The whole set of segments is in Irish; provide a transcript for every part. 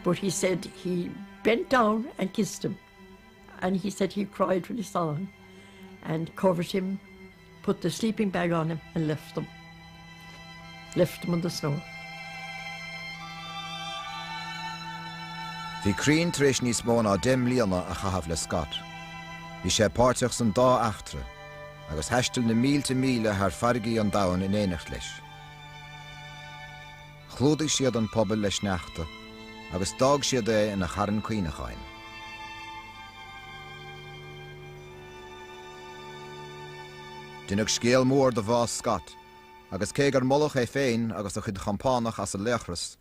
But he said he bent down and kissed him and he said he cried when he saw him and covered him, put the sleeping bag on him and left him. Left him on the snow. Bhí Crean tar éis níos mó ná deich mbliana a chaitheamh le Scott. Bhí sé páirteach san dá eachtra, agus thaistil na mílte míle thar farraigí an domhain in éineacht leis. Chlúdaigh siad an puball le sneachta agus d'fhág siad é ina charn cuimhneacháin. Deineadh scéal mór de bhás Scott, agus cé gur moladh é féin agus a chuid chompánach as a laochras,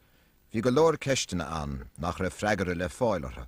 bhí go leor ceisteanna ann nach raibh freagra le fáil orthu.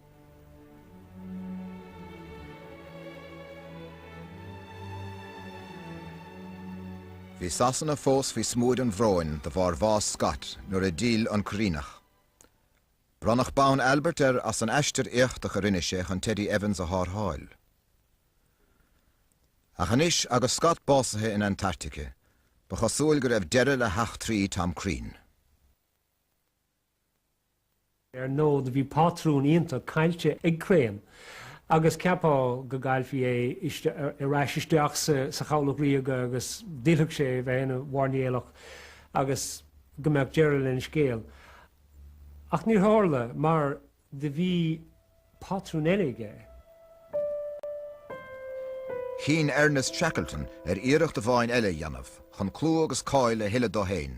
Bhí Sasana fós faoi smúid an bhróin de bharr bhás Scott nuair a d'fhill an Cuiríneach. Bronnadh bonn Albert air as an aistear éachtach a rinne sé chun Teddy Evans a thárrtháil. Ach anois agus Scott básaithe in Antartaice, ba chosúil go raibh deireadh le heachtraí Tom Crean. Ar ndóigh, bhí pátrún iontach caillte ag Crean agus cheapfá go gcaillfí é ar ais isteach sa Chabhlach Ríoga agus d'fhillfeadh sé ar bheith ina mhairnéalach agus go mbeadh deireadh lena scéal. Ach níor tharla mar do bhí pátrún eile aige. Chinn Ernest Shackleton ar iarracht amháin eile a dhéanamh chun clú agus cáil a thuilleadh dó féin.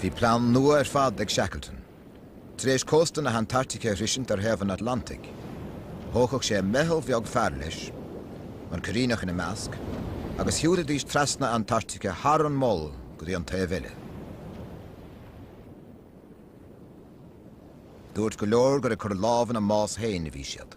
Bhí plean nua ar fad ag Shackleton. Tar éis cósta na Antartaice a shroisint ar thaobh an Atlantaigh, thógfadh sé meitheal bheag fear leis, an Cuiríneach ina measc, agus shiúlfaidís trasna na Antartaice thar an Mol go dtí an taobh eile. Dúirt go leor gur ag cur lámh ina mbás féin a bhí siad.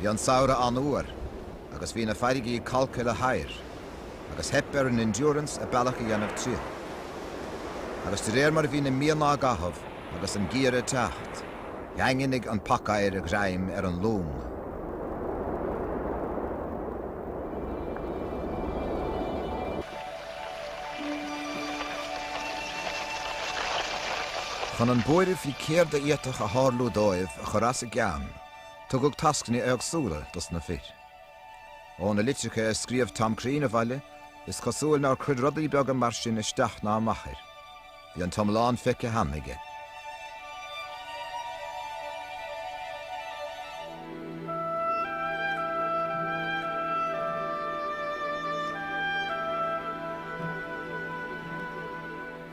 Bhí an samhradh an-fhuar agus bhí na farraigí calctha le hoighear agus theip ar an Endurance a bealach a dhéanamh tríothu. Agus de réir mar a bhí na míonna á gcaitheamh agus an geimhreadh ag teacht, dhaingnigh an pacoighear a ghreim ar an long. Chun an buaireamh faoi céard a d'fhéadfadh a tharlú dóibh a chur as a gceann, tugadh tascanna éagsúla dos na fir. Ó na litreacha a scríobh Tom Crean abhaile, is cosúil nár chuir rudaí beaga mar sin isteach ná amach air. Bhí an t-iomlán feicthe cheana aige.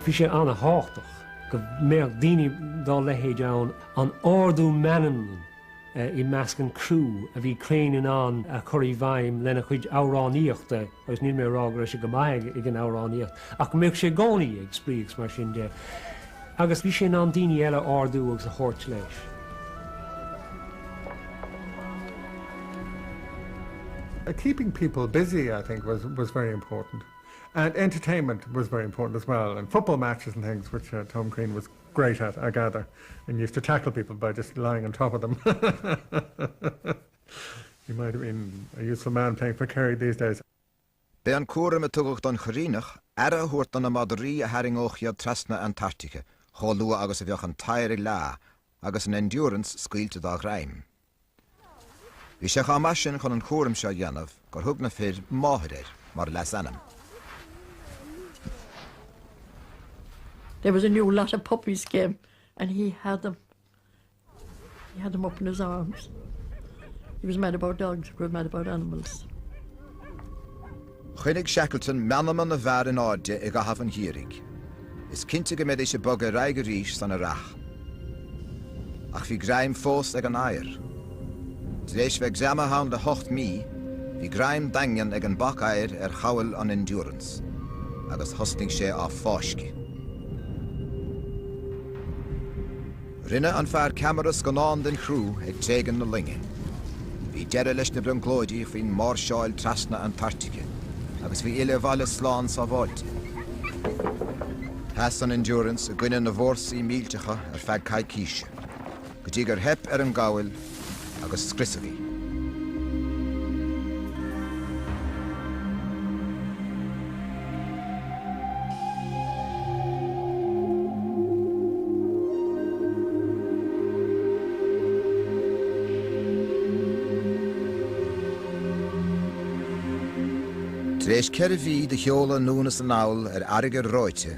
Bhí sé an-tábhachtach go mbeadh daoine dá leithéid ann, an t-ardú meanman i measc an chriú a bhí Crean in ann a chur i bhfeidhm lena chuid amhránaíochta. agus níl mé ag rá go raibh sé go maith ag an amhránaíocht, ach go mbíodh sé i gcónaí ag spraoi agus mar sin de, agus bhí sé in ann daoine eile a ardú agus a thabhairt leis. keeping people busy, I think, was, was very important. And entertainment was very important as well. And football matches and things, which uh, Tom Crean was great at, I gather, and used to tackle people by just lying on top of them. He might have been a useful man playing for Kerry these days. B'é an cúram a tugadh don Chuiríneach aire a thabhairt do na madraí a tharraingeodh iad trasna Antartaice chomh luath agus a bheadh an t-oighear ag leá agus an Endurance scaoilte dá ghreim. Bhí sé chomh maith sin chun an cúram seo a dhéanamh gur thug na fir 'Máthair' air mar leasainm. There was a new lot of puppies came and he had them. He had them up in his arms. He was mad about dogs, he was mad about animals. Choinnigh Shackleton meanma na bhfear in airde i gcaitheamh an gheimhridh. Is cinnte go mbeidís ag bogadh ar aghaidh arís san earrach. Ach bhí greim fós ag an oighear. Tar éis bheith greamaithe ann le hocht mí, bhí greim daingean ag an bpacoighear ar chabhail an Endurance, agus thosnaigh sé á fáisceadh. Rinne an fear ceamara scannán den chriú ag tréigean na loinge. Bhí deireadh leis na brionglóidí faoin máirseáil trasna Antartaice agus faoi fhilleadh abhaile slán sábháilte. Sheas an Endurance i gcoinne na bhfórsaí millteacha ar feadh coicíse. go dtí gur theip ar an gcabhail agus scriosadh í. Tar éis ceithre mhí de sheoladh anonn is anall ar fharraige reoite,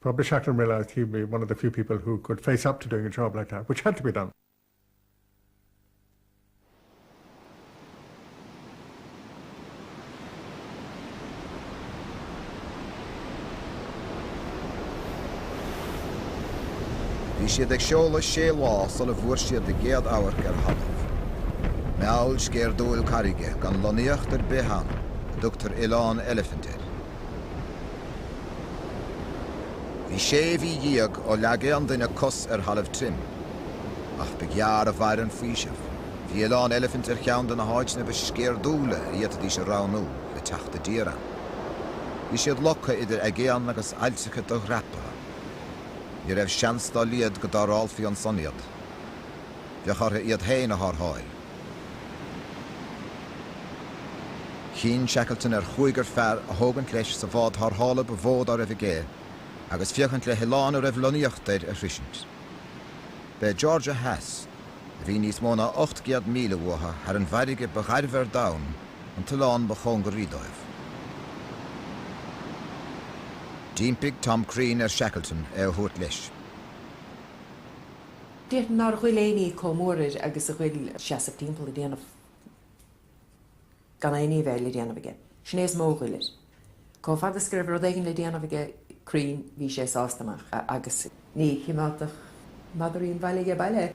Probably Shackleton realised he'd be one of the few people who could face up to doing a job like that, which had to be done. Bhí siad ag seoladh sé lá sula bhfuair siad a gcéad amharc ar thalamh. Meall sceirdiúil carraige gan lonnaíocht ar bith ann a dtugtar Oileán Elephant air. Bhí sé mhí déag ó leag aon duine cos ar thalamh tirim. Ach ba ghearr a mhair an faoiseamh. Bhí Oileán Eilifint ar cheann de na háiteanna ba sceirdiúla a fhéadfaidís a roghnú le teacht i dtír ann. Bhí siad loctha idir aigéan agus aillteacha do-dhreapaithe. Ní raibh seans dá laghad go dtarrthálfaí ansan iad. bheadh orthu iad féin a tharrtháil. Chinn Shackleton ar chúigear fear a thógaint leis sa bhád tharrthála ba mhó dá raibh aige agus féachaint le hoileán a raibh lonnaíocht air a shroisint. B'é Georgia Theas, a bhí níos mó ná ocht gcéad míle mhuatha thar an bhfarraige ba ghairbhe ar domhan, an t-oileán ba chóngaraí dóibh. D'impigh Tom Crean ar Shackleton é a thabhairt leis. Deir nár ghoill éinní comh mór air agus a ghoill seasamh timpeall ag déanamh gan éinní a bheith le déanamh aige. Sin é is mó a ghoill air. Comh fada is go raibh rud éigin le déanamh aige Crean bhí sé sásta amach agus. Ní choimeádfadh madairín bhaile ag baile.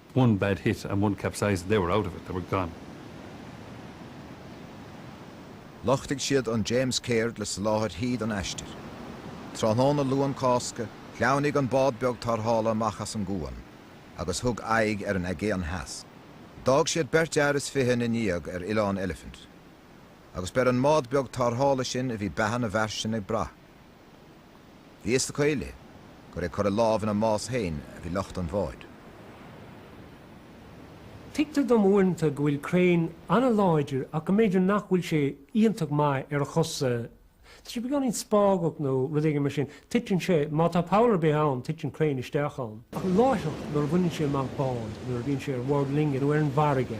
one bad hit and one capsized, they were out of it, they were gone. Lochtaigh siad an James Caird le soláthairtí i gcomhair an aistir. Tráthnóna Luan Cásca, shleamhnaigh an bád beag tarrthála amach as an gcuan agus thug aghaidh ar an Aigéan Theas. D'fhág siad beirt fhear is fiche ina ndiaidh ar Oileán Elephant. Agus b'ar an mbád beag tarrthála sin a bhí beatha na bhfear sin ag brath. Bhí fhios acu uile gur ag cur a lámh ina mbás féin a bhí lucht an bháid. Tuigtear dom uaireanta go bhfuil Crean ana-láidir ach go mb'fhéidir nach bhfuil sé iontach maith ar a chosa. Tá sé beagáinín spágach nó rud éigin mar sin. Titeann sé, má tá poll ar bith ann, titeann Crean isteach ann. Ach láithreach nuair a bhaineann sé amach bád, nuair a bhíonn sé ar bhord loinge nó ar an bhfarraige,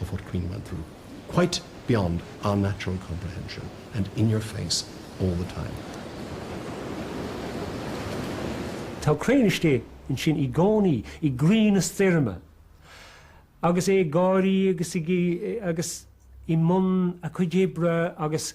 of what Crean went through, quite beyond our natural comprehension and in your face all the time. Tá Crean istigh ansin i gcónaí, i gcroí na stoirme, agus é ag gáirí agus i mbun a chuid oibre agus.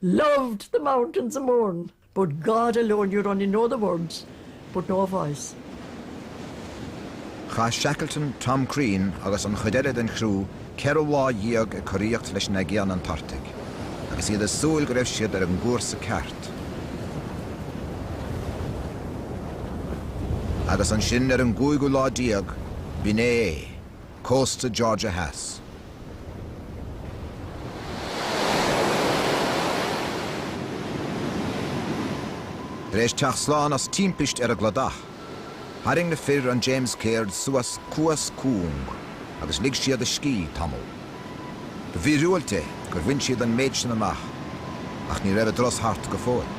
Loved the mountains of Mourne, but God alone you'd only know the words, but no voice. Chaith Shackleton, Tom Crean agus an chuid eile den chriú ceithre lá dhéag ag coraíocht leis an Aigéan Antartaigh, agus iad ag súil go raibh siad ar an gcúrsa ceart. Agus ansin, ar an gcúigiú lá déag, b'in é é. cósta Georgia Theas. Tar éis teacht slán as timpist ar an gcladach, tharraing na fir an James Caird suas cuas cúng agus lig siad a scíth tamall. Ba mhíorúilt é gur bhain siad an méid sin amach, ach ní raibh a dturas thart go fóill.